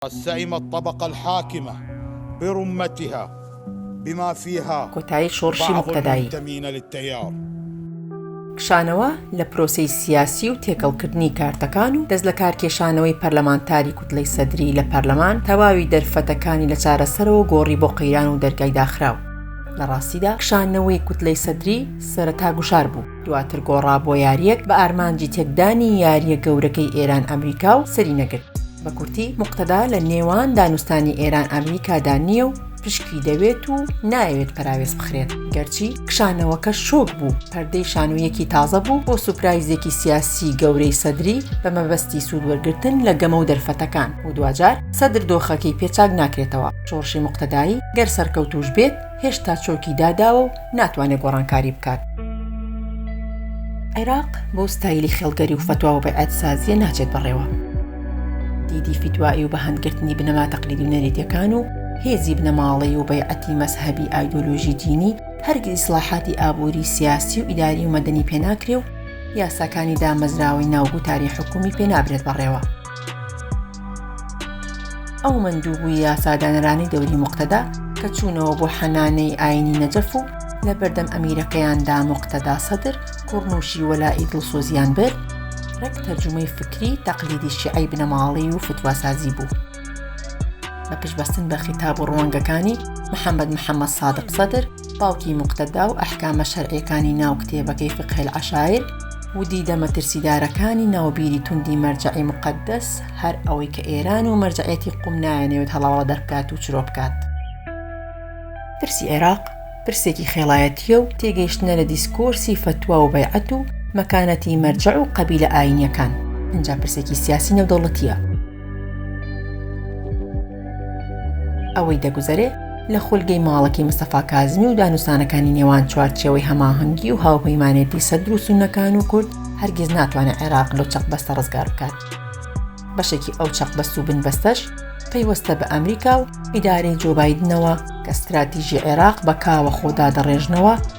قد سئم الطبقە الحاکمە برمتها بما فیها کۆتایی شۆڕشی بعض موقتەدایی. المنتمین للتیار. کشانەوە لە پرۆسەی سیاسی و تێکەڵکردنی کارتەکان و دەستلەکارکێشانەوەی پەرلەمانتاری کوتلەی سەدری لە پەرلەمان، تەواوی دەرفەتەکانی لە چارەسەرەوە گۆڕی بۆ قەیران و دەرگای داخراو. لە ڕاستیدا کشانەوەی کوتلەی سەدری سەرەتا گوشار بوو. دواتر گۆڕا بۆ یارییەک بە ئارمانجی تێکدانی یارییە گەورەکەی ئێران ئەمریکا و سەری نەگرت. بە کورتی موقتەدا لە نێوان دانوستانی ئێران ئەمریکادا نییە و پشکی دەوێت و نایەوێت پەراوێز بخرێت، گەرچی کشانەوەکە شۆک بوو، پەردەی شانۆیەکی تازە بوو بۆ سوپرایزێکی سیاسی گەورەی سەدری بە مەبەستی سوود وەرگرتن لە گەمە و دەرفەتەکان و دواجار سەدر دۆخەکەی پێ چاک ناکرێتەوە، شۆڕشی موقتەدایی گەر سەرکەوتووش بێت، هێشتا چۆکی داداوە و ناتوانێت گۆڕانکاری بکات. عێراق بەو ستایلی خێڵگەری و فەتوا و بەعەتسازیە ناچێت بەڕێوە. دیدی فیتوایی و بەهەندگرتنی بنەما تەقلیدی و نەریتەکان و هێزی بنەماڵەی و بەیعەتی مەزهەبی ئایدۆلۆژی دینی هەرگیز ئیسڵاحاتی ئابووری، سیاسی و ئیداری و مەدەنی پێناکرێ و یاساکانی دامەزراوەی ناو گوتاری حکوومی پێنابرێت بەڕێوە. ئەو مەندووبووی یاسادانەرانی دەوری موقتەدا کە چوونەوە بۆ حەنانەی ئاینی نەجەف و لە بەردەم ئەمیرەکەیاندا موقتەدا سەدر کوڕنووشی وەلائی دڵسۆزیان برد ڕێک تەرجومەی فکری تەقلیدی شیعی بنەماڵی و فتواسازی بوو بە پشتبەستن بە خیتاب و ڕوانگەکانی محەممەد محەممەد سادق سەدر باوکی موقتەدا و ئەحکامە شەرعیەکانی ناو کتێبەکەی فقه العشایر و دیدە مەترسیدارەکانی ناو بیری توندی مەرجەعی موقەدەس، هەر ئەوەی کە ئێران و مەرجەعیەتی قوم نایانەوێت هەڵاوەڵە دەربکات و چرۆ بکات. پرسی عێراق پرسێکی خێڵایەتیە و تێگەیشتنە لە دیسکۆرسی فەتوا و بەیعەت و مەکانەتی مەرجەع و قەبیلە ئاینیەکان، ئینجا پرسێکی سیاسی نێودەوڵەتیە. ئەوەی دەگوزەرێ لە خولگەی ماڵەکی مستەفا کازمی و دانوسانەکانی نێوان چوارچەوەی هەماهەنگی و هاوپەیمانێتی سەدر و سونەکان و کورد هەرگیز ناتوانێت عێراق لەو چەق بەستە ڕزگار بکات بەشێکی ئەو چەق بەست و بن بەستەش پەیوەستە بە ئەمریکا و ئیدارەی جۆبایدنەوە کە ستراتیژی عێراق بە کاوە خۆدا دەڕێژنەوە